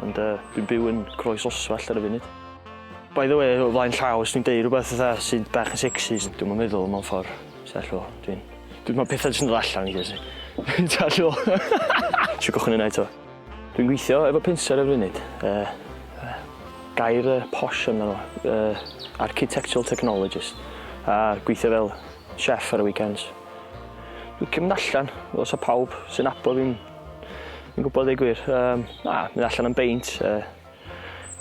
Ond uh, dwi'n byw yn Croes Oswell ar y funud. By the way, o flaen llaw, os dwi'n deud rhywbeth fatha sy'n bach yn sexy, dwi'n yn meddwl mewn ffordd. Sell o, dwi'n... Dwi'n meddwl pethau sy'n dod allan i gysi. Sell o. Siw gochyn yna eto. Dwi'n gweithio efo pinser ar y funud. Uh, uh, gair uh, posh yna nhw. Uh, architectural technologist. A gweithio fel chef ar y weekends. Dwi'n cymryd allan, os o pawb sy'n abo fi'n Fi'n gwybod dweud gwir. Um, na, mynd allan am beint. Uh,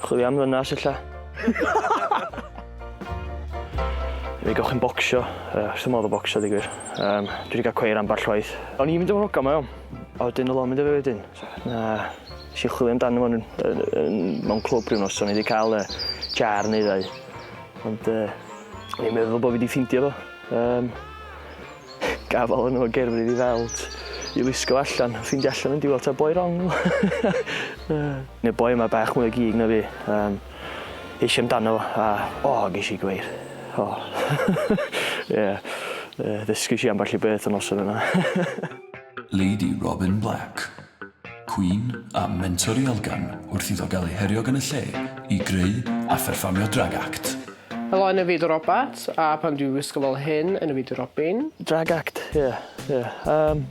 chwilio am ddynas illa. Fe gawch chi'n bocsio. Uh, Sdim modd o bocsio dweud gwir. Um, dwi wedi cael cweir ambell waith. O'n i'n mynd am rogan mae o. A wedyn oedd o'n mynd efo wedyn. Na, si chwilio amdano fo'n mewn clwb rhyw nos. O'n i wedi cael uh, jar neu ddau. Ond uh, o'n i'n meddwl bod fi wedi ffindio fo. Um, Gafal yn ol gerbri fi fel t i wisgo allan a ffindio allan yn diwel ta boi rong o. Ne'r boi yma bach mwy o gig na fi yym es i amdano a o gesh i gweir o ie yy ddysgys i ambell i beth y noson yna. Lady Robin Black, cwîn a mentor i elgan wrth iddo gael ei herio gan y lle i greu a pherfformio drag act. Helo yn y fyd o Robat, a pan dwi wisgo fel hyn yn y fyd o Robin. Drag act ie ie yym.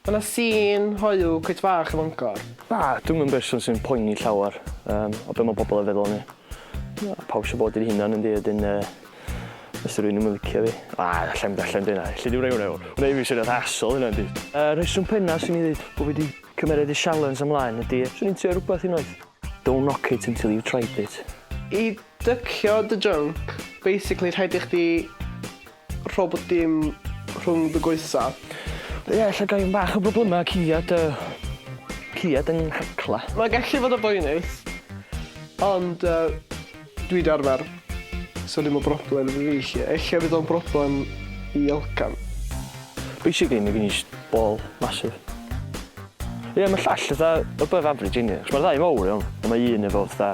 Ma na sîn hoyw cweit fach yn Fangor. Na dwi'm yn berson sy'n poeni llawer yym o be ma pobol yn feddwl o mi. Na pawb isio bod yr hunan yndi a 'dyn yy os 'di rywun ddim yn licio fi na allai'm d- allai'm deu' na elli di'm roi wnna i fewn. Wnai ddim isio asshole yna yndi? Y rheswm penna swn i ddeud bo fi 'di cymered y sialens ymlaen ydi swn i'n trio rwbath unwaith. Don't knock it until you've tried it. I Dycio dy junk, basically rhaid i chdi rho bob dim rhwng dy goesa. Ie, ella gai un bach o broblema ciliad yy ciliad yng nghacla. Mae gallu fod yn boenus, ond yy dwi 'di arfer, so dim yn broblem i fi 'lly. Ella fydd o'n broblem i Elgan. Basically mae gen i jyst ball massive. Ie, mae llall fatha above average inni, achos mae'r ddau yn fowr iawn, ond mae un efo fatha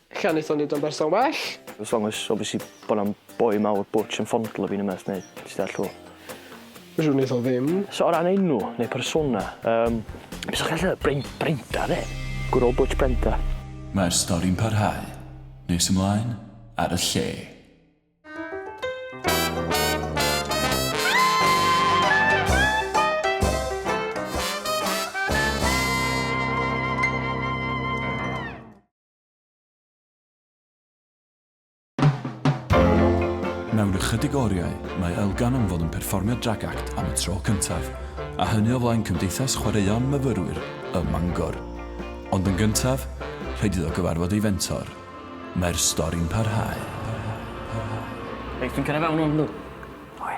Lle a wnaethon ni fod yn berson well? As long as obviously bod 'na'm boi mawr butch yn fondlo fi ne' wbath neu ti deall t'mo'. Fedrwn i wneud o ddim. So o ran enw neu persona yym be' sa chdi gallu ddeud? Bryn- Brenda 'de? Good old butch Brenda. Mae'r stori'n parhau. Nes ymlaen, ar y lle. Mewn ychydig oriau, mae Elgan am fod yn perfformio Drag Act am y tro cyntaf, a hynny o flaen Cymdeithas Chwaraeon Myfyrwyr ym Mangor. Ond yn gyntaf, rhaid iddo gyfarfod ei fentor. Mae'r stori'n parhau. Reit, dwi'n cyrraedd fewn ŵan, yndw? Oce.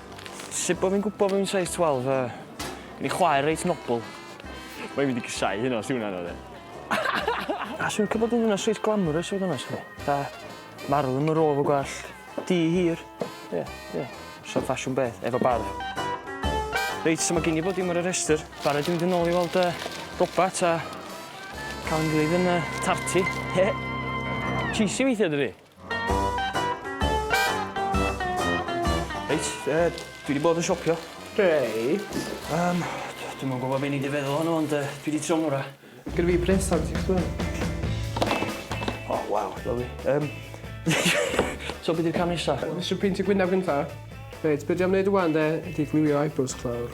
Sut bo fi'n gwbo bo fi'n size 12 yy? Gen i chwaer reit nobl. Mae 'i mynd i gasau hynna os 'di hwnna'n odd e. A swn i'n licio bod yn ddynas reit glamorous i fod onest 'fo chi. Fatha marw ddim yn rôl efo gwallt du hir. Ie ie. Sa ffasiwn beth efo barf. Reit so ma' gin i bob dim ar y rhestyr. Barod i mynd yn ôl i weld yy Robat a ca'l 'yn ngwlyb yn yy tarti. Cheesy weithia dydi? Reit, yy, dwi 'di bod yn siopio. Reit. Yym, d- dwi'm yn gwbo be' nei di feddwl ohono ond yy dwi 'di trio ngwra. Gyda fi brêcs ar ti ch'mo'. O waw, lyfli. Yym so be' 'di'r cam nesa? Nesh i peintio gwynab gynta. Reit, be' dwi am neud ŵan 'de ydi glwio eyebrows chdi lawr.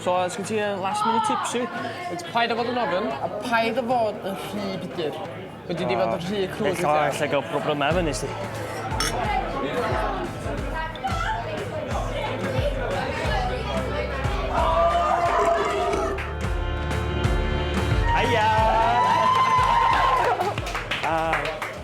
So os gen ti yy last minute tips i fi? It's paid â fod yn ofyn a paid â fod yn rhy budur. Fedri di fod yn rhy crude weithia. Ella ella ga'l problema efo 'ny sti. Haia!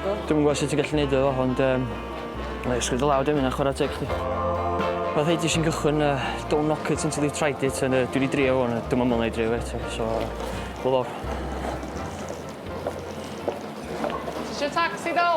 Dwi'm yn gwybod sut ti'n gallu neud o, ond um, like, sgwyd y law dim yna chwarae teg chdi. Mae rhaid i sy'n gychwyn uh, don't knock it until you've tried it, and uh, dwi wedi drio hwn, dwi'n aml na i drio eto, so uh, wel o'r. Ti eisiau taxi dal?